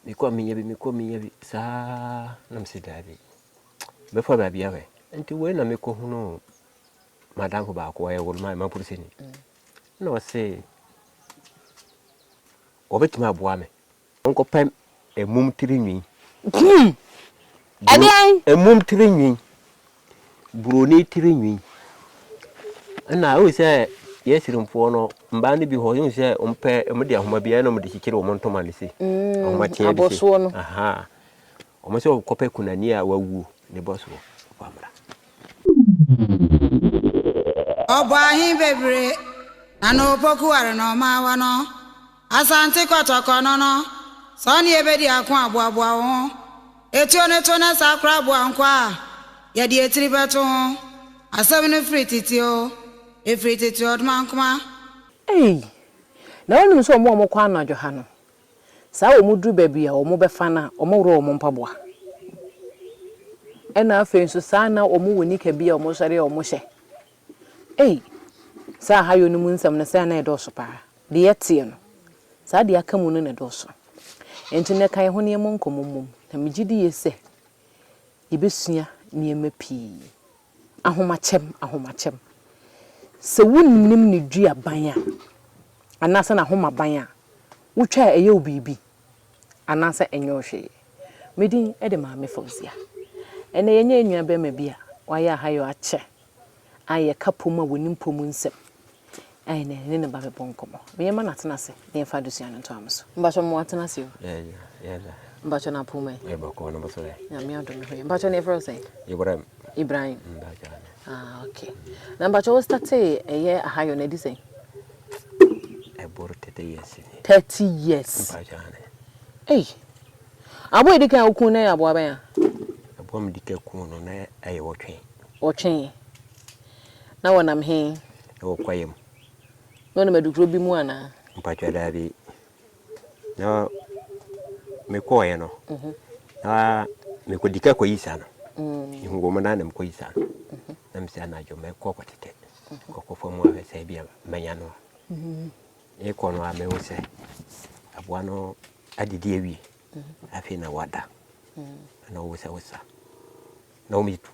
Mekɔ a menyɛ bi, mekɔ a menyɛ bi saa na mese daabi. Mɛfa baabi ahwɛ. Nti wei na mekɔhunuu madamfo baako ɔyɛ woloma mapolisini. Na ɔse wɔbɛtumi aboa me. Wonkɔpɛ mmom tiri nwi. Ɛdeɛn? Mmom tiri nwi. buroni tiri nwi. Ɛna wohu sɛ yɛ sirimfoɔ no mbaa no bi hɔ wohu sɛ ɔmpɛ ɔmo de ahoma bi ɛna ɔmo de kyekyere ɔmo ntoma no se mm, ahoma teɛ bi se aha ɔmo sɛ ɔkɔpɛ kunani a wawuo ne bɔ soɔ wamra. Ɔbɔ ahe bebree na na opoku ware na ɔma awa no. Asante Kɔtɔkɔ no no, sɛ wo ne yɛ bɛdi ako a, boaboa wo ho. Etuo no to na saa koraa boa nkoa a, yɛde etiri bɛto ho. Asɛm no firi tete oo, efiri tete ɔdomankoma. Ei! Na wonim sɛ wɔn a wɔkɔ anadwo ha no, saa a wɔduru baabi a wɔbɛfa no a, wɔworɔ wɔn mpaboa. Ɛnna afei nso saa na wɔwɔ nika bi a wɔsɔre a wɔhyɛ. Ei! Saa Ahayɔ no mu nsɛm no sɛɛ na ɛdɔɔso paa. Deɛ yɛteɛ no, saa deɛ aka mu no na ɛdɔɔso. Enti nnɛ ka yɛn ho na yɛmmɔ nkɔmmɔ mmom, na megye di yie sɛ yɛbɛsua nneɛma pii. Ahomakyɛm, ahomakyɛm. Sɛ wonnim ne duaban a, anaasɛ n'ahomaban a, wotwa a ɛyɛ wo biribi, anaasɛ ɛnyɛ wo hwee. Me din de Maame Fauzia. Ɛnnɛ yɛanya nuabarima bi a wayɛ Ahayɔ akyɛ a yɛka pom a wɔnim pom nsɛm a ɛnɛ ne ne ba bɛbɔ nkɔmmɔ. Meɛma no atena ase na yɛmfa adesua no ntoa mo so. Mpakyɛ mo atena ase o. Mpakyɛ no apom ɛ. Nyame adom ho yɛ. Mpakyɛ no yɛfrɛ wo sɛn? Ibrahim. Ibrahim. Ah, okay. Na mpakyɛ wo statee ɛyɛ ahayɔ na ɛdi sɛn? Ɛboro 30 years. 30 years. Mpakyɛ ane. Ei. Aboa a edi kan a wokum no yɛ aboa bɛn? a. Aboa a wɔde kan kum no, na ɛyɛ ɔtwe. Ɔtwe. Na wɔnam he? Wɔ kwaeɛ mu. Na wɔnam adukuro bi mu anaa? Mpakyɛ, daabi. Na mekɔeɛ no, na mekɔdi ka kɔyi saa no. Mehu wɔn na na mekɔyi saa no. Na mesɛ anadwo mɛkɔ kɔtetɛ, kɔkɔ fam ahwɛ sɛ ebia mɛnya no a. Merekɔ no ara mehu sɛ aboa no adidi awie afei na wada na wosawosa na wɔn tu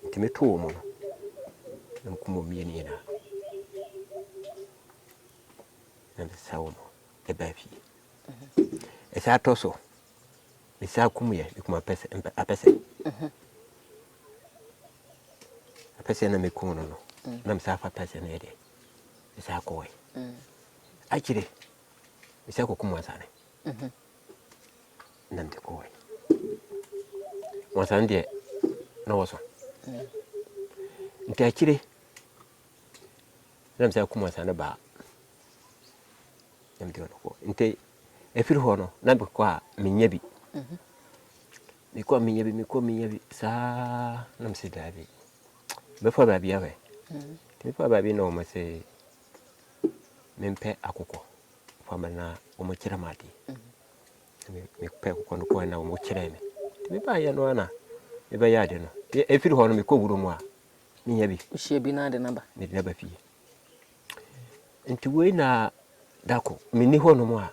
nti meto wɔn no na mekum wɔn mmienu nyinaa na mesa wɔn ɛba fie ɛsɛ atɔ so mesa kum yɛ mekum apɛsɛ apɛsɛ apɛsɛ na mekum no no na mesa afa apɛsɛ no yɛ deɛ Mesan kɔe. Mm. Akyire, mesan kɔku Mwansane. Mhm. Na mede kɔe. Mwansane deɛ, na wɔsɔ. Mm. Nti akyire, na mesan ku Mwansane baa. Na mede ɔno kɔ. Nti ɛfiri hɔ no, na mekɔ a menya bi. Mhm. Mekɔ a menya bi, mekɔ a menya bi saa na mese daabi. Mɛfa baabi ahwɛ. Nti mefaa baabi na wɔn se mempɛ akokɔ. Fa ma na wɔn kyerɛ me adeɛ. Me mepɛ akokɔ no kɔɛ na wɔn kyerɛ me. Nti mebaayɛ no ana mebɛyɛ ade no. Nti efiri hɔ no mekɔ wuro mu a menya bi. Wohyia bi na ade naba. Mede naba fie. Nti wei na dako menni hɔ nom a.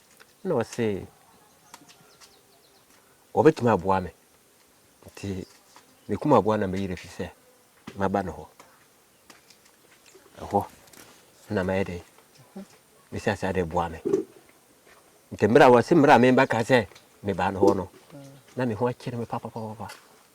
Ɛna ɔse wɔbɛtumi aboa me nti mekum aboa na meyere fi sɛ maba ne hɔ ɛhɔ na mayɛ dɛ mesi ase ade boa me nti mmerɛ a wɔse mmerɛ a memba ka sɛ mebaa ne hɔ no na me ho akyere me papapapapa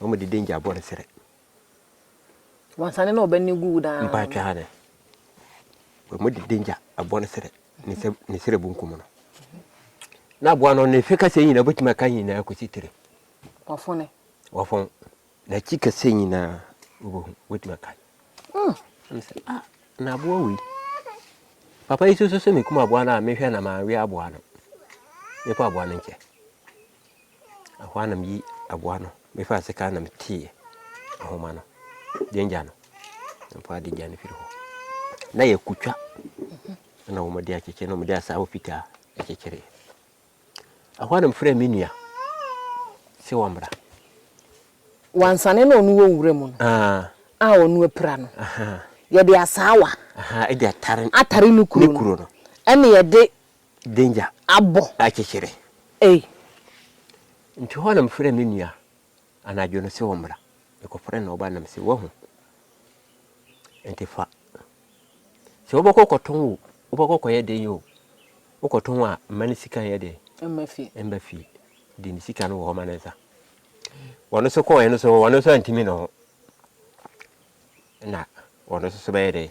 Na wɔde danger abɔ ne srɛ. Wansane na ɔbɛne gu wo daa. Mpa atwa ha dɛ. Wɔde danger abɔ ne srɛ. Ne srɛ bunkum no. Na aboa no ne fe kasa nyinaa bɛtumi aka nyinaa kɔsi tire. Wafone. Wafone. N'akyi kasa nyinaa wobɛhu wobɛtumi aka. Hmm. Ah, na aboa wei. Papa yi soso sɛ mekum aboa no a mehwɛ na mawe aboa no. Mefa aboa no nkyɛ. Ɛhɔ ara na meyi aboa no, mefaa sekan no na meteeɛ ahoma no, gyangya no, na mefaa de gya no firi hɔ. Na yɛkutwa na wɔde akyekyere na wɔde asaawa fitaa akyekyere. Ɛhɔ ara na mefrɛɛ me nua sɛ wɔmmra. Wansane na ɔno wɔ nwura mu no ah. a ɔno apira no yɛde asaawa atare ne kuro no ɛna yɛde danger abɔ akyekyere. Ei! Nti hɔ na mefrɛɛ me nua anadwo no se ɔmmra. Mekɔfrɛɛ no na ɔbae na mese, Woahu? Nti fa. Sɛ wobɛkɔ akɔtɔn o, wobɛkɔ akɔyɛ den o, wokɔtɔn a mma ne sika nyɛ den. Mma fie. Mma fie. De ne sika no wɔ hɔ ma ne nsa. Wɔn nso kɔɔɛ no so, wɔn nso antumi ne ho. Na wɔn nso so bɛyɛ dɛn?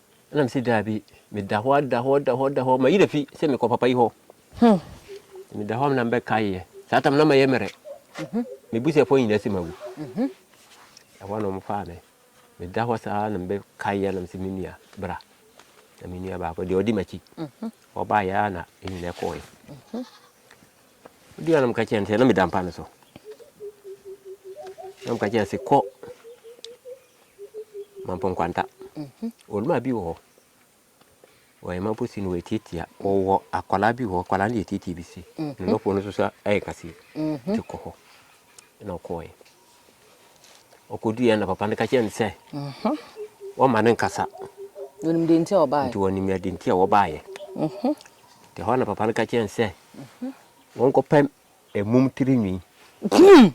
Ɛna mese daabi, meda hɔ a, da hɔ, da hɔ, da hɔ, mayi afi sɛ mekɔ papa yi hɔ. Hmm. Meda hɔ a na mebɛkaeɛ. Saa tam na mayɛ mmerɛ. Mhm. Mebusuafoɔ nyinaa sɛ mawu. Mhm. Ɛhɔ a na wɔfaa me. Meda hɔ saa na mebɛkaeɛ na mese me nua bra. Na me nua baako deɛ ɔdi m'akyi. Mhm. Ɔbaeɛ a na ɛnyina kɔɔɛ. Ɔdi a na meka kyerɛ no sɛ na meda mpa no so. Na meka kyerɛ sɛ kɔ Mampo nkwanta. Ɔnua bi wɔ hɔ. Ɔyɛ mampo si na wɔatiatia. Ɔwɔ akwadaa bi wɔ hɔ. Akwadaa no yɛ tiatia bi si. Ne nɔfoɔ no nso so ayɛ kaseɛ. Nti kɔ hɔ. Ɛna ɔkɔɔɛ. Ɔkɔduiɛ na papa no ka kyerɛ no sɛ wɔma no nkasa. Wɔnim deɛ nti a wɔbaeɛ. Nti wɔnim deɛ nti a wɔbaeɛ. Nti hɔ na papa no ka kyerɛ no sɛ wɔnkɔpɛ Ɛmum tiri nwi. Hum!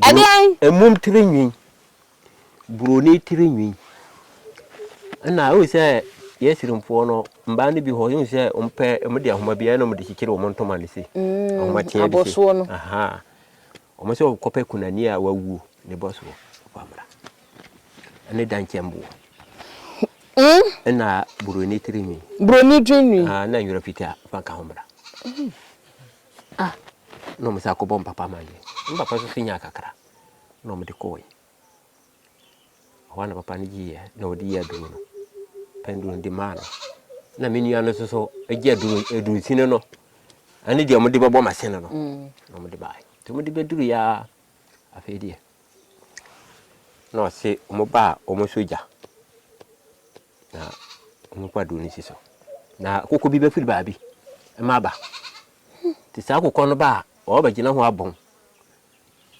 Ɛdeɛn? Ɛmum tiri nwi. Buroni tiri nwi. Ɛna ɛwɔ sɛ yɛ sirimfoɔ no mbaa no bi hɔ yɛn sɛ wɔn pɛ wɔn de ahoma bi ɛna wɔn de kyekyere wɔn ntoma no se. Mm, ahoma tiɛ de se. Aha. Wɔn sɛ wɔkɔpɛ kunani a wawuo ne bɔ soɔ wamra. Ɛne dankyɛmboɔ. Mm. Ɛna buroni tiri nwi. Buroni tiri nwi. Ah, na nwura fitaa fanka ho mra. Mm. a na wɔsan akɔbɔ mpapa ma yɛn. Me papa nso nyaa kakra na wɔde kɔɔe. Ɛhɔ a na papa no gyeeɛ na ɔde yɛ aduro no. Pɛn duro no de maa no. Na me nua no nso so gye aduro aduro nsini no ɛne deɛ wɔde bɛbɔ machine no mm. na wɔde baeɛ. Nti wɔde bɛduru yɛ a afei deɛ na ɔse wɔn baa wɔn sogya. na wɔkɔ aduro no si so na koko bi bɛfiri baabi ma aba nti saa kokɔ no ba a ɔbɛgyina ho abɔn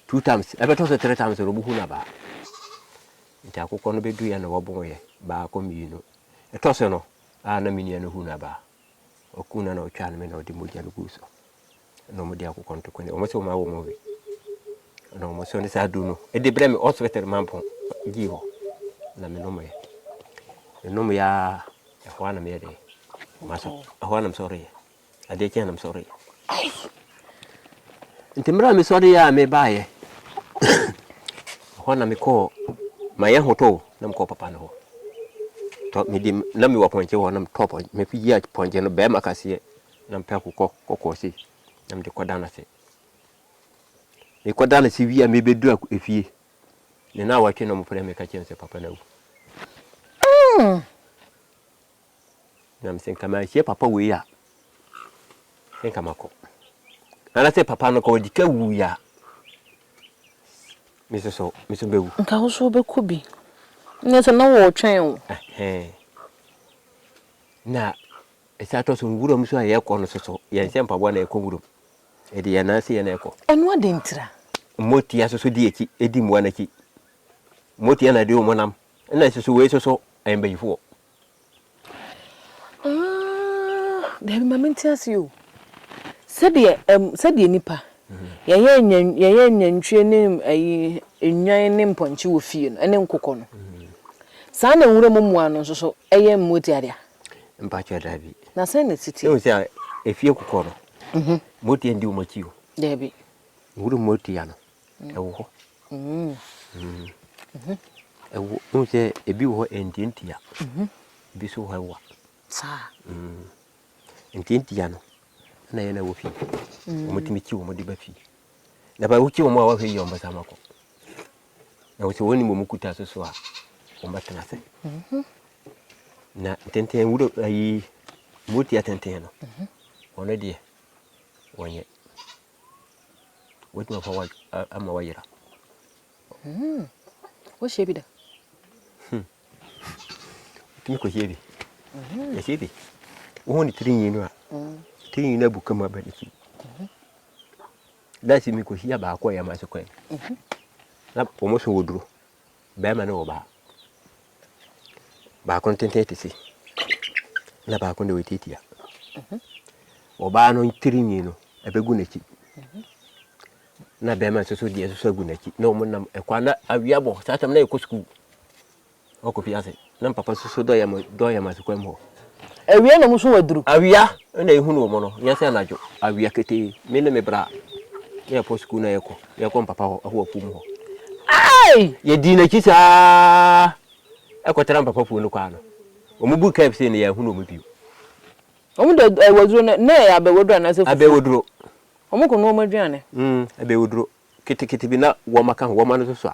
two times ɛbɛtɔ so three times ɔno buhu na baa nti akokɔ no bɛduiɛ na wɔbɔn yɛ baako mmienu ɛtɔ so no a na menua no hu na baa ɔkuu no na ɔtwaa no me na ɔde mogya no guu so na wɔde akokɔ ntoko ne wɔn sɛ wɔn awɔ wɔn we na wɔn so ne saa duro no ɛde brɛ me hospital mampɔn gyi hɔ na me nom yɛ me nom yɛ a ɛhɔ a na me yɛ dɛ wɔn asɔ ɛhɔ a na me sɔre yɛ adeɛ kyɛn na me sɔre yɛ. Nti mmerɛ a mesɔreeɛ a mebaeɛ, ɛhɔ na mekɔɔ mayɛ hotoo na mekɔɔ papa no hɔ tɔ mede na mewɔ pɔnkye hɔ na metɔ pɔnkye mefiyia pɔnkye no bɛrima kaseɛ na mepɛ kokɔ kɔkɔɔ sei na mede kɔda no ase mekɔda no ase wie a mebɛdura efie ne na awɔtwe na ɔmofrɛ me ka kyerɛ me sɛ papa no awu hmm. Nam sɛ nka manhyia papa wei a, sɛ nka makɔ. Anaasɛ papa no nka ɔdi ka wuiɛ a, me nso so, me nso bɛwu. Nka wo nso wobɛkɔ bi. Nyɛ sɛ na wɔretwɛn wo. Ɛhɛn. Na ɛsan atɔ so nwuram nso a yɛrekɔ no nso so, yɛnhyɛ mpaboa na yɛkɔ nwuram. Yɛde yɛn nan ase yɛ na yɛkɔ. Ɛno adɛn ntira? Motia nso so di akyi, di mmoa no akyi. Motia na ɛde wɔn nam. Ɛna nso so wei nso so, ɛyɛ mbayifoɔ. Ah, daabi ma mente ase o. Sɛdeɛ ɛm sɛdeɛ nnipa yɛyɛ nya yɛyɛ nantwie ne ayi nnwan ne mpɔnkye wɔ fie no ne nkokɔ no. Saa na nwura mu mmoa no nso so yɛ mmoa ti adeɛ. Mpakyɛw daabi. Na sɛn na ɛsi teɛ? Ehu sɛ efie kokɔ no. Mhm. Mmoa ti ndi wɔn akyi o. Daabi. Nwura mu mmoa ti ano. ɛwɔ hɔ. Wohu sɛ ebi wɔ hɔ ɛntiantia, ebi nso wɔ hɔ ɛwa. Ntiantia no, ɛna yɛ na ɛwɔ fie. Wɔtumi kyi wɔn de ba fie. Na ba wokyi wɔn a wɔhwɛ yie wɔn bɛsan akɔ. Na wɔsɛ wɔn nim wɔn kuta so so a wɔn bɛtena ase. Na tenten wuro ayi motia tenten no, wɔn deɛ wɔnyɛ. Wobɛtumi afa wa ama wayera. Hmm. Wohyia bi da? Hmm. Wotumi kɔhyia bi. Hmm. Yɛhyia bi. Wohu ne tiri nwi no a, hmm. tiri nwi no abu kama ba n'akyi. Hmm. Daakye mekɔhyia baako a yɛama so kwan. Na wɔn so wɔ duro. barima ne ɔbaa. Baako ntenten kɛse, na baako deɛ ɔtiatia. Ɔbaa no tirinwi no, ɛbɛgu n'akyi. Na barima nso so deɛ nso so agu n'akyi. Na wɔn nam ɛkwan na awia bɔ saa tam na yɛkɔ sukuu. Ɔkɔ fi ase. Na me papa susu dɔ yam dɔ yam ase kwam hɔ. Awia na ɔmo so aduru. Awia na ehunu ɔmo no nyɛ sɛ anadwo. Awia ketee me ne me bra na yɛkɔ sukuu na yɛkɔ na yɛkɔ me papa hɔ ɛhɔ afuom hɔ. Aii! Yɛdii n'akyi saa ɛkɔ tra me papa fue no kwaa no ɔmo bur kaa bi sei no yɛanhunu ɔmo bio. Ɔmo de ad waduro no na ɛyɛ abɛwaduro anaasɛ fufuo? Abɛwaduro. Ɔmo kɔ noa ɔmo aduane. Mm abɛwaduro ketekete bi na wɔma ka ho wɔma no so sua.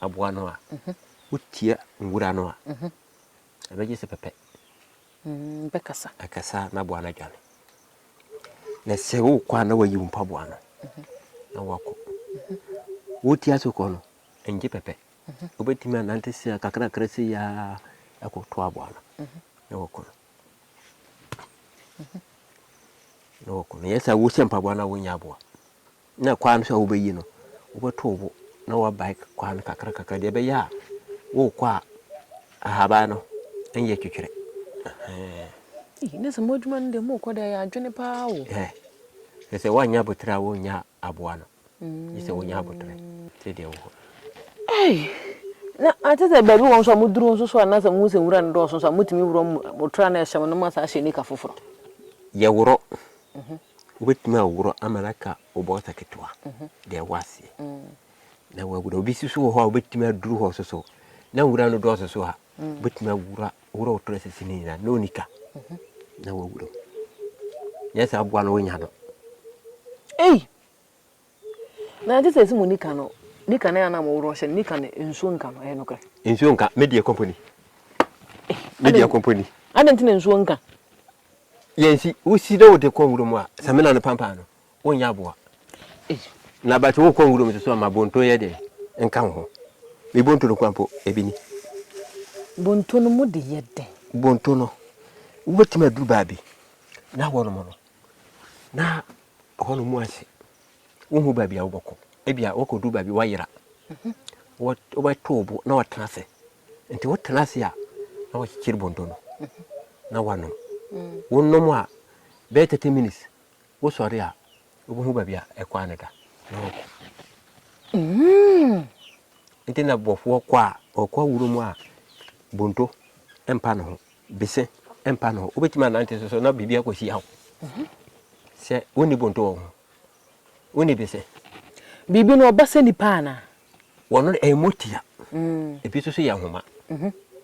aboa no a, wotia nwura no a, ɛbɛgye sɛ pɛpɛ. Mm, bɛkasa. Ɛkasa na aboa no adwane. Na sɛ wokɔ a na wayi wo mpaboa no na wakɔ. Wotia so kɔ no, ɛngye pɛpɛ. Wobɛtumi anante sɛ kakrakra sɛ yi a ɛkɔto aboa no na wakɔ no. Na wakɔ no. Yɛ sɛ wohyɛ mpaboa no a wonyɛ aboa. na kwan no so a wobɛyi no, wobɛto wo bo na woabae kwan no kakrakakra deɛ ɛbɛyɛ a worekɔ a ahaban no nyɛ twetwerɛ. na sɛ mo adwuma no deɛ morekɔ deɛ ɛyɛ adwene paa o. sɛ sɛ woanyɛ aboterɛ a wonnya aboa no gye sɛ wonya aboterɛ sɛdeɛ wɔ hɔ. na ate sɛ baabi wɔ nso a moduru nso so a na sɛ mohu sɛ nwura no dɔɔso nso a motumi worɔ motra no ɛhyɛ mo no ma saa hyɛ nika foforɔ. yɛworɔ mhm. Wobɛtumi aworɔ ama no aka wo bɔɔsa ketewa deɛ ɛwɔ aseɛ na woagu no. Obi si so wɔ hɔ a wobɛtumi aduru hɔ so so na nwura no dɔɔso so a wobɛtumi awura worɔ wo torɛ sisi no nyinaa na ɔnika na woagu no. Nyɛ sɛ aboa no wonya no. Ei! Na ɛnte sɛ ɛsɛ mu nika no nika no a na moworo hyɛ no nika no nsuo nka no ɛyɛ nokorɛ. Nsuo nka me deɛ kɔmpɔni me deɛ kɔmpɔni. Adɛn nti na nsuo nka. Yɛn si wosi na wode kɔ nwura mu a samina no pampan no wonyɛ aboa. Na bate wokɔ nwura mu so ama bonto yɛ deɛ nka wo ho me bonto no kwan po ebi ni. Bonto no mu de yɛ dɛn. Bonto no wobɛtumi aduru baabi na hɔ nom no na ɛhɔ no mu ase wohu baabi a wobɛkɔ ebi a wokɔdu baabi woayera wobɛto wo bo na watena ase nti wotena ase a na wakyekyere bonto no na wanom wonom a bɛyɛ 30 minutes wosɔre a wobɛhu baabi a ɛkwan no da na wakɔ mm. nti na bɔfoɔ kɔ a ɔkɔ awuro mu a bonto mpa ne ho Bese mpa no hɔ. Wobɛtumi anante so so na biribi akɔsi awo. Sɛ wonni bonto wɔ wo ho. Wonni bese. Biribi no ɔba sɛ nipa anaa? Wɔno no ɛyɛ motia. Ebi nso so yɛ nhoma.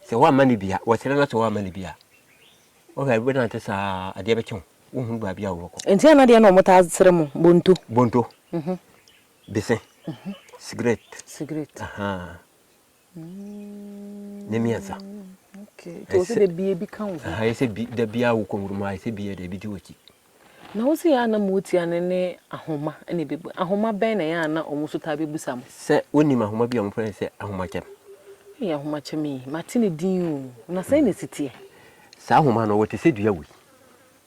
Sɛ woamma no bi a, wɔ serɛ no ase woamma no bi a, wohwɛ wobɛnante saa adeɛ bɛkye wo. Wonhunu baabi a wobɛkɔ. Nti ana deɛ na wɔtaa serɛ mo bonto? Bonto, bese, sigaret. Sigaret. Ahaa. ne mmiɛnsa ɛyɛ sɛ da biara wokɔ nwuram ayɛ sɛ biara daabi di w'akyi na wo sɛ yɛ a na motia no ne ahoma ne bɛbu ahoma bɛn na ɛyɛ a na ɔmo so taa bɛbusa mo sɛ wonim ahoma bi a ɔmo frɛ sɛ ahomakyɛm ɛyɛ ahomakyɛm yi mate ne din o na sɛn na ɛsiteɛ saa ahoma no wɔte sɛ dua wei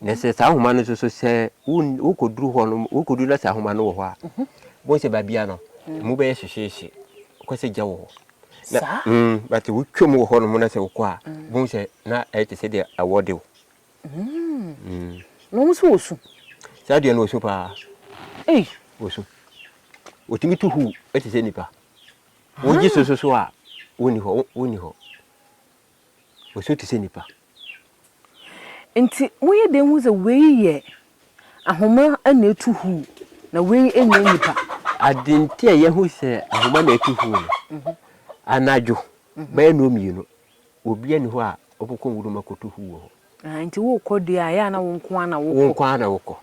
Na sɛ saa nhoma no nso so sɛ wokɔduru hɔ no wokɔduru na saa nhoma no wɔ hɔ a bohu sɛ baabia no ɛmu bɛyɛ hyehyeehye kɔ sɛ gya wɔ hɔ na mm, but wotwam wɔ hɔ nom na sɛ wokɔ a bohu sɛ na ɛyɛ te sɛ deɛ awɔ de wo mm. na wɔn nso wɔ su saa deɛ no wɔ su paa ei wɔ su wɔtumi tu hu ɛte sɛ nipa wɔgye sososo a wonni hɔ wonni hɔ Wɔnsuo te sɛ nnipa. Enti moyɛ dɛn hu sɛ wei yɛ ahoma na atu hu na wei nyɛ nnipa? Ade nti a yɛahu sɛ ahoma na atu hu no, anadwo bɛyɛ nnɔn mmienu, obiara nni hɔ a ɔbɛkɔ nwuram akɔtu hu wɔ hɔ. Enti worekɔ deɛ a, ɛyɛ a na wo nko ara na wokɔ? Wo nko ara na wokɔ.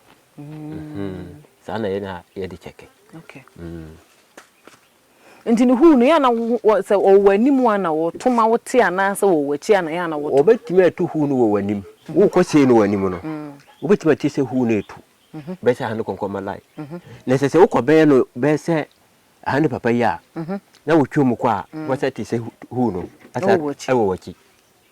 Saa na yɛn a yɛde kyɛke. Okay. Nti no huu no, yɛ a na wɔ, sɛ wɔwɔ w'anim a na wɔto ma wote anaasɛ wɔwɔ w'akyi a na yɛ a na wɔto. Wɔbɛtumi atu huu no wɔ w'anim. Worekɔ sei no w'anim no, wobɛtumi ate sɛ huu no retu. Bɛyɛ sɛ ha ne kɔnkɔnma line. Na ɛsɛ sɛ wokɔ bɛyɛ no, bɛyɛ sɛ ha ne papa yi a, na wotwam kɔ a, woasan ate sɛ huu no asa wɔ w'akyi.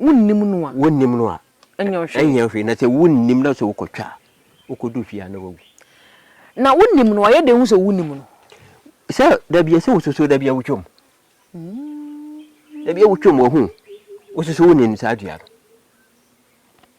Wonnim no a. Wonnim no a. Ɛnyɛ hwee. Ɛnyɛ hwee. Na sɛ wonnim na sɛ wokɔtwa a, wokɔdu fie a na wawu. Na wonim no a, yɛdɛn hu sɛ wonim no? Sɛ da bi a sɛ wosusu da bi a wotwam. Da bi a wotwam wahu. Wosusu wonim saa dua no.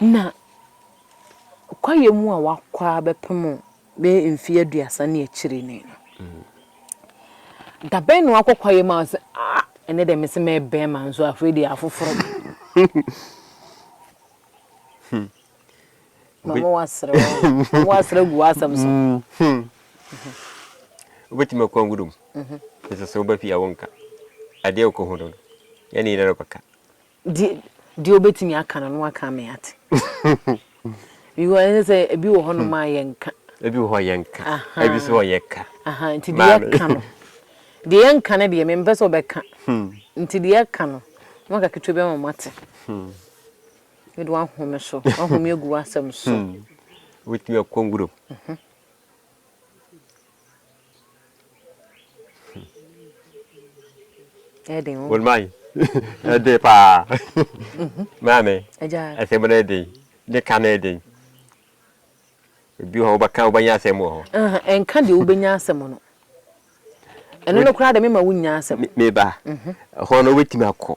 Na kwaeɛ mu a wakɔ ara bɛpem bɛyɛ mfeɛ aduasa ne akyire ni no, dabɛn na wakɔ kwaeɛ mu a ɔse ah ɛnɛ deɛ mese mɛyɛ bɛɛma nso afei deɛ afoforo no. Hmm. Mama wasere mama wasere gu asɛm so. Hmm. hmm. Wobɛtumi akɔ anwurom. Mhm. Ɛsɛ sɛ woba fie a wonka. Adeɛ wokɔ hu no no, yɛne yɛn na kɔka. Deɛ deɛ wobɛtumi aka no na waka ama yɛate. Because ɛne sɛ ebi wɔ hɔnom a yɛnka. Ebi wɔ hɔ yɛnka. Aha. Ebi nso wɔ hɔ yɛka. Aha, nti deɛ Maame. yɛka no. Deɛ yɛnka no deɛ mempɛ sɛ wobɛka. Nti deɛ yɛka no, na waka ketewa bi ama mate. Wode wahome so, wahome agu w'asɛm so. Wobɛtumi akɔ nwuram. ɛden o wonman ɛde paa maame ɛsɛm no ɛden ne ka no ɛden ebi hɔ wobɛka wobɛnya asɛm wɔ hɔ ɛnka deɛ wobɛnya asɛm no ɛno no koraa de mema wonya asɛm meba hɔ no wobɛtumi akɔ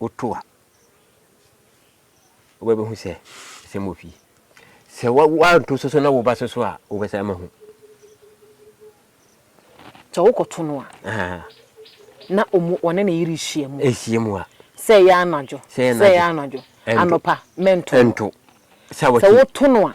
woto a, wobɛbɛhu sɛ asɛm wɔ fie. Sɛ woanto so so na wo ba so so a, wobɛsan ma hu. Sɛ wokɔto no a, na wɔne ne yere rehyia mu. Ɛhyia mu a. Sɛ ɛyɛ anadwo, sɛ ɛyɛ anadwo, anɔpa, mɛnto. Sɛ woto no a.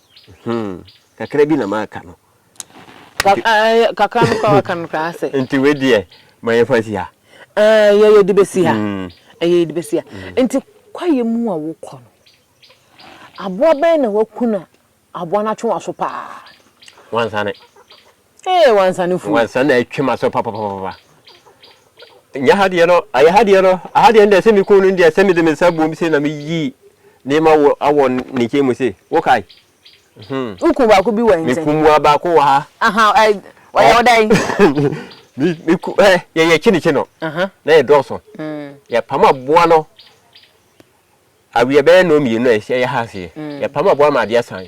Hmm, kakra bi na maka no. Ka Nti, ah, eh, kakra no koraa waka no koraa ase. nti wei deɛ ma yɛmfa nsi ha. Eh, yɛ yɛde bɛsi ha. Mm, Ɛyɛ yɛde bɛsi ha. mm. Nti kwaeɛ mu a wokɔ no, aboa bɛn na waku na aboa no atwe w'aso paa? Wansane. Ee wansa no fu. Wansa na atwa ma so papapapa. Nya ha deɛ no, ayɛ ha deɛ no, aha deɛ no deɛ sɛ me kun no deɛ sɛ me de me nsa buom se na me yi ne ma wɔ awɔ ne nkyɛn mu se. Wo kai. Hmm. Wo kun baako bi wɔ nkyɛn. Me kun mua baako wɔ ha. Aha, ai, wa yɛ oda yi. Me me ku eh yɛ yɛ chini chino. Aha. Na yɛ dɔɔso. Mm. Yɛ pam aboa no. Awie bɛyɛ no mmienu a yɛ ha se. Mm. Yɛ pam aboa ma adeɛ san.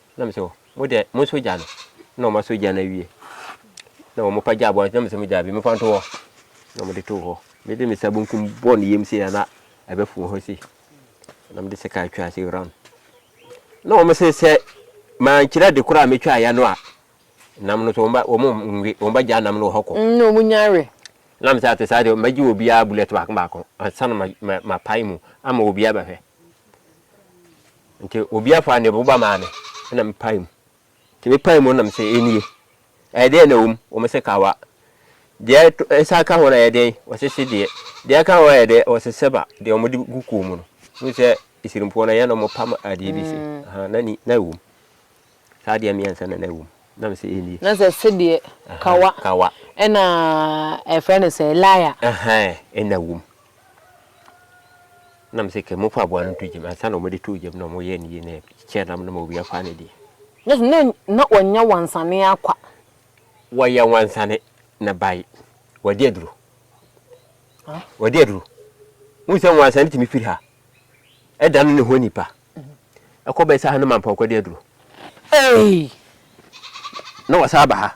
Na mesɛ oh, mo deɛ mo nso gya no. Na wɔn asɔ gya no awie. Na wɔn pa gya aboa no. Na mesɛ mo gya bi, mo fa nto hɔ. Na wɔn de to hɔ. Me de me nsa benkum bɔ ne yam sei na ɛbɛ fun hɔ sei. Na me de sika atwa ase round. Na wɔn sɛ sɛ maa nkyerɛ de koraa metwa ayɛ no a, nam no so wɔn ba wɔn nwe wɔn ba gya nam no wɔ hɔ kɔ. Mm, na wɔn nyare. Na mesɛ ate saa deɛ, magye obiara bullet baako baako. Ansa na ma ma pae mu ama obiara bɛhwɛ. Nti obi afa ne boba maa me na mepae mu. Nti mepae mu na mese, Ɛnie, ɛyɛ dɛn na ɛwɔ mu? Wɔn se, Kawa. Deɛ ɛsan ka ho no ɛyɛ dɛn? Wɔse, Sedeɛ. Deɛ ɛka ho ɛyɛ dɛn? Wɔse, Sɛba, deɛ wɔde gu kuo mu no. Wohu sɛ Asirimfoɔ no ɛyɛ na wɔpam adeɛ bi se, Ahaa, na ni, na ɛwɔ mu. Saa deɛ mmiɛnsa na na ɛwɔ mu. Na me sɛ ɛnnie. Na sɛ sedeɛ, kawa. Kawa. Ɛna ɛfrɛ no sɛ laya. Ahaa, ɛna wɔ mu. Na me sɛ kɛ mofa aboa no nto gya mu. Ansa na wɔde too gya mu na wɔyɛ no yie na ɛkyɛ nam no ma obi afa ne deɛ. Na sɛ na wɔnyɛ wansane ara kwa. Wɔyɛ wansane na bae. Wɔadi aduro. Wɔadi aduro. Wohu sɛ wansane tumi firi ha. Ɛdane ne ho nipa. ɛkɔ bɛsa ha no ma mpɔnkɔ de aduro. Ei! Na wɔsan aba ha.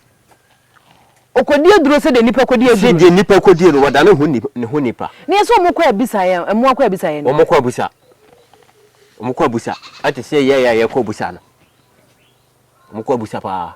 Ɔkɔdi aduro sɛdeɛ nnipa kɔdi aduro. Sɛdeɛ nnipa kɔdie no, wɔdane ho ne ho nnipa. Na yɛ sɛ wɔkɔ abisa yɛn, mmoa kɔ abisa yɛn. Wɔkɔ abusa. Wɔkɔ abusa. Ɛte sɛ yɛn a yɛkɔ abusa no. Wɔkɔ abusa paa.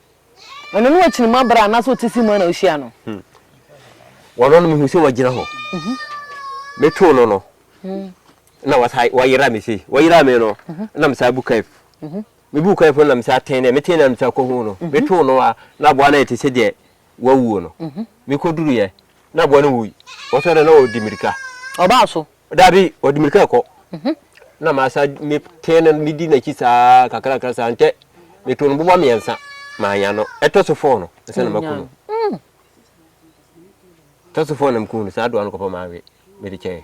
Ɔno ne ɔkyini mu abra anaasɛ ɔte se mu ana wohyia no? Ɔno no mehu sɛ wagyina hɔ. Metoo no no na wayera me sei. Wayera me no na mesaa bu kaif. Mebu kaif no na mesaa ten dɛ. Meten na mesaa kɔhu no. Metoo no a na aboa no ayɛ te sɛ deɛ wawuo no. Mekɔduruiɛ na aboa no wui. Wɔsɔre na wɔdi mmirika. Ɔbaa so. Dabi, ɔde mmirika kɔ. Mhm. Na masa metee no medi n'akyi saa kakrakra saa ntɛ meto no boba mmiɛnsa maanya no. Ɛtɔ so fɔɔ no ɛsɛ na maku no. Mm. Ɛtɔ so fɔɔ na mku no saa doa no kɔpɔ maawe mede kyɛɛ.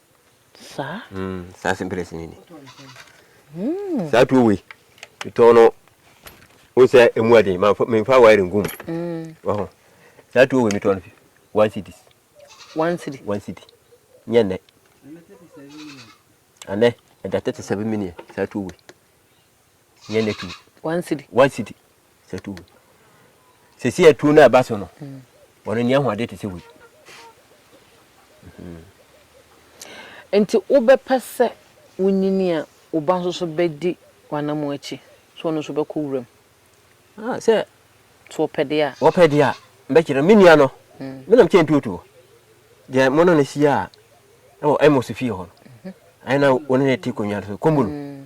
Saa? Mm, saa simples ni ni. Mm. Saa tuo wei, tɔn no, o sɛ emu aden, ma menfa wire ngum. Mm. Waho. Saa tuo wei metɔn no one city. One city. One city. Nyɛ nɛ. Anɛ, ɛda 37 million saa tuo wei. yɛn na tu one city one city sɛ tu sɛsi atuo no a ɛba so no wɔn ani ahoɔden te sɛ wei mhm. nti wobɛpɛ sɛ wonyini a wo ba nso so bɛdi w'anamo akyi sɛ ɔno nso bɛkɔ wuram ah, sɛ so wɔpɛ deɛ a wɔpɛ deɛ a mbɛkyerɛ me nua no mm. menam kyɛ ntuotuo deɛ mo no no hyia a ɛwɔ ɛmɔ so fie hɔ no mhm. ɛna wɔne ne te konnwa so kɔmbu no mm.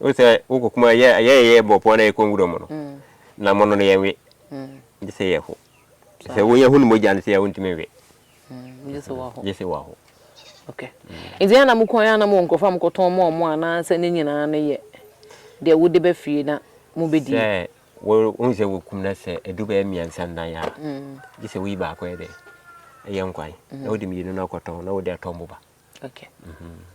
Wohu sɛ wokɔ kuma yɛ yɛ yɛ bɔ pɔn na yɛkɔ nwura mu no na mono no yɛnwe gye sɛ yɛho sɛ wonya hunu mogya no sɛ yɛ wontumi nwe gye sɛ waho nti ana mokɔ yɛ ana mowɔ nkurɔfoɔ a mokɔtɔn ma ɔmo anaasɛ ne nyinaa no yɛ deɛ wode bɛ fie na mobɛdi sɛ wohu sɛ wɔkum no sɛ ɛdu bɛyɛ mmiɛnsa nnan a gye sɛ woyi baako yɛ dɛ ɛyɛ nkwan na wode mmienu no akɔtɔn na wode atɔ mmoba okay. mm -hmm.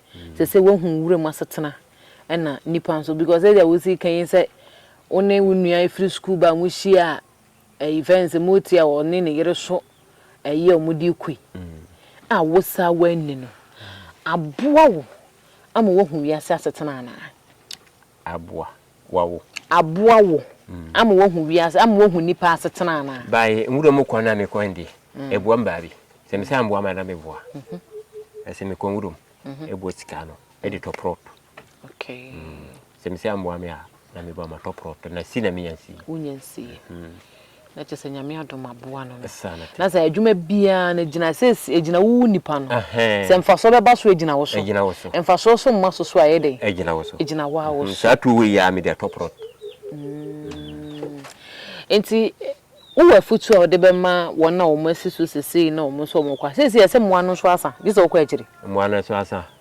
Ɛsɛ sɛ woahu wuram asetena ɛna nnipa nso because sɛdeɛ wosi ka yi sɛ wo ne wo nua ɛfiri sukuu ba a mohyia a ɛyi fɛn sɛ mote a ɔne ne yere so ɛyi a wɔde kɔ yi a wo saa woanni no aboa wo ama woahu wiase asetena anaa? Aboa. wa wo. Aboa wo ama woahu wiase, ama woahu nnipa asetena anaa? By nwura mu kwan a mekɔ no deɛ, ɛboa me baabi. Sɛ me san boa me a na meboa. Na sɛ mekɔ nwura mu, ɛboa sika ano de tɔ prɔt. Sɛ me san boa me a na meboa matɔ prɔt. Na si na menya nsie. Wonya nsie. Na kyerɛ sɛ Nyame adom aboa no no. Na sɛ adwuma biara no gyina sɛ ɛgyina wo wo nipa no. Sɛ mfasoɔ bɛba so ɛgyina wo so. Mfasoɔ so mma so so a ɛyɛ dɛn? Ɛgyina wo so. Ɛgyina wo ara wo so. Saa tuo wei yɛ a mede atɔ prɔt. Nti wowɔ afutuo a wode bɛma wɔn a wɔn asi so sesei na wɔn nso wɔn kɔ a seesei ɛsɛ mmoa no nso asa gye sɛ wokɔ akyire. Mmoa no nso asa.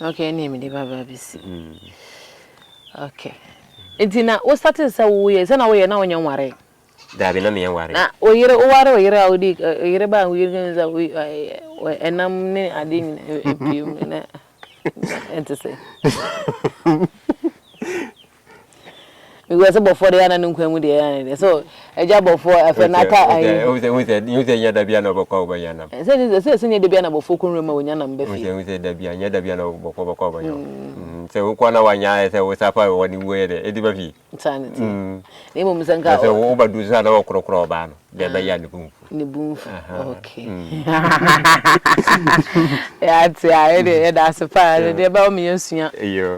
Okay, ɛne mede baba abɛsi mu. Okay. Nti na wo starting sɛ woyɛ sɛ na woyɛ na wonyɛ nware. Daabi na meyɛ nware. Na oyere woware oyere a wodi oyere ba wo yere kan sɛ ɛnam ne ade nyina epiem na ɛnte sɛ. Because sɛ bɔfoɔ deɛ ana ne nkwa mu deɛ ana deɛ so ɛgya bɔfoɔ afɛ na ata ayi. Wosɛ wosɛ wosɛ nyɛ dabi ana ɔbɛkɔ ɔbɛ nya nam. Sɛ sɛ sɛ sɛ nyɛ dabi ana bɔfoɔ kɔnwura mu a wɔnya nam bɛfie. Wosɛ wosɛ dabi anyɛ dabi ana bɔfoɔ bɛkɔ ɔbɛ nya. Sɛ wokɔ na wanya ayɛ sɛ wosa fa wɔ ne wuo yɛ dɛ edi bɛfie. Saa ne ti. Na mmom sɛ nka. Sɛ wo badu so ana wɔkorɔkorɔ ɔbaa no deɛ bɛyɛ ne kumfu. ne bu mfu okay yɛate a yɛde yɛda ase paa no deɛ ɛbɛma me yɛasua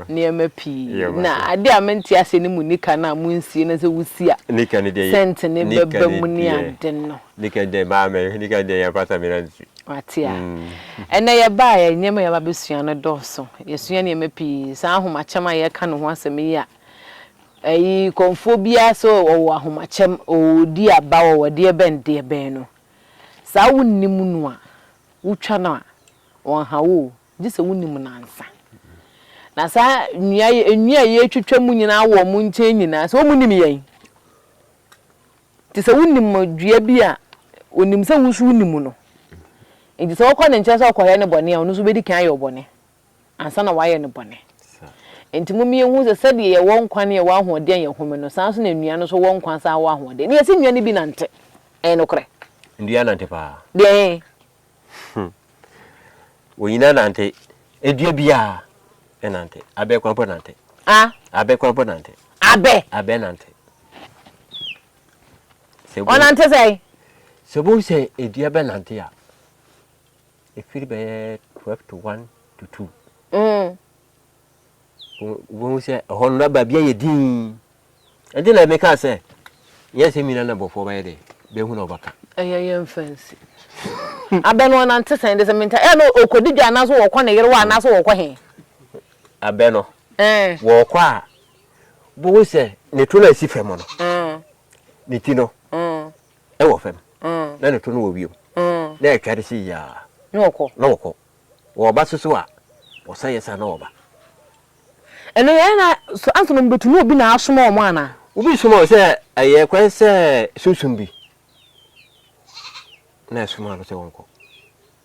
nneɛma pii na adeɛ a mente ase ne mu nika no a monsie no sɛ wosi a sɛnte ne bɛba mu ne ade no wate a ɛnɛ yɛbaa yɛ nneɛma yɛba bɛsua no dɔɔso yɛsua nneɛma pii saa ahomakyɛm a yɛka ne ho asɛm yi a Eyi kɔmfoɔ biara sɛ ɔwɔ ahomakyɛm, ɔredi aba, ɔwɔ deɛbɛn deɛbɛn no, saa wonnim no a, wotwa no a, ɔnha wo o, gye sɛ wonim no ansa. Na saa nnua yi, nnua a yɛretwitwa mu nyinaa wɔ wɔn nkyɛn nyinaa, sɛ wɔnnim yɛn. Nti sɛ wonim dua bi a, ɔnim sɛ wo nso wonim no. Nti sɛ wokɔ ne nkyɛn sɛ ɔrekɔyɛ ne bɔne a, ɔno nso bɛdi kan ayɛ wo bɔne. ansa na wɔayɛ no bɔne. Enti momyɛ nhu sɛ sɛdeɛ yɛwɔ nkwa ne yɛwɔ ahoɔden a yɛhome no, saa ara nso na nnua no nso wɔ nkwa san wɔ ahoɔden. Ne yɛse nnua no bi nante. Ɛyɛ nokorɛ. Nnua nante paa. Deɛn? Hmm. Wɔn nyinaa nante. Edua biara ɛnante. Abɛ kwan mpo nante. A? Abɛ kwan mpo nante. Abɛ? Abɛ nante. Ɔnante sɛn? Sɛ bohu sɛ edua bɛnante a, ɛfiri bɛyɛ twelve to one to two. Mm. Wɔn sɛ ɛhɔ no raba bi ayɛ din. Ɛnti na ɛmeka sɛ yɛ sɛ mina na bɔfoɔ bɛyɛ dɛ bɛhu na ɔbɛka. Ɛyɛ yɛ mfɛnsi. Abɛ no ɔnante sɛn de sɛ menta ɛyɛ no ɔkɔdi dwa anaasɛ wɔkɔ ne yere wɔ anaasɛ wɔkɔ he. Abɛ no eh. wɔkɔ a bohu sɛ ne to no asi fam no mm. ne ti no mm. Wɔ fam, na ne to no wɔ wiem, na ɛtware sei ara, na wɔkɔ. Wɔba so so a, wɔsan yɛ saa na wɔba. Ɛno yɛ na so ansa na wɔbɛtu na obi na asoma wɔn anaa? Obi soma wɔn sɛ ɛyɛ kwan sɛ sunsum bi na ɛsoma no sɛ wɔnkɔ.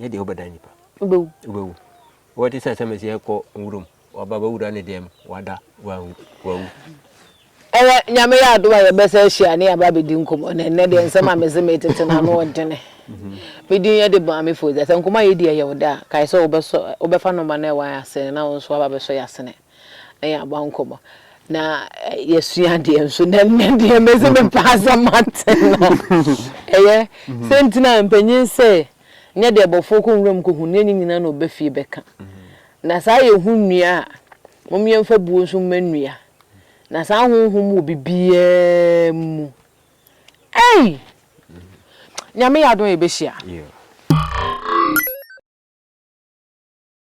Nyɛ deɛ wobɛdan nipa. Wobɛwu. Wobɛwu. Wɔte sɛ sɛ mesi ɛkɔ nwuram, waba bɛwura ne deɛm, wada, wanwu, wawu. Ɛnɛ, Nyame yɛ adom a yɛbɛsan ahyia ne yɛaba abɛdi nkɔmmɔ. Na ɛnnɛ deɛ nsɛm a mese meretete no ano ɔdene. Me din yɛ de Maame Foze. Sɛ nkɔmmɔ a yɛdi yɛ yɛ wo dɛ a, kae sɛ wobɛsɔ, wobɛfa nɔma no a ɛwɔ yɛn asene no na wo nso woaba abɛsɔ yɛn asene. Ɛyɛ aba nkɔmɔ. Na yɛsua adeɛ nso na ɛnyɛ deɛ mɛsi me paa sɛ mate no. Ɛyɛ sɛ nti na mpanyin sɛ nyɛ deɛ abɔfoɔ kɔ nwura mu kɔhu ne ɛnyɛ nyina na ɔba fie bɛka. Na saa yɛhu nnua a mom yɛmfa buo nso mma nnua. Na saa honhom wɔ bibiaa mu. Ei! Nyame yɛ adom a yɛbɛhyia.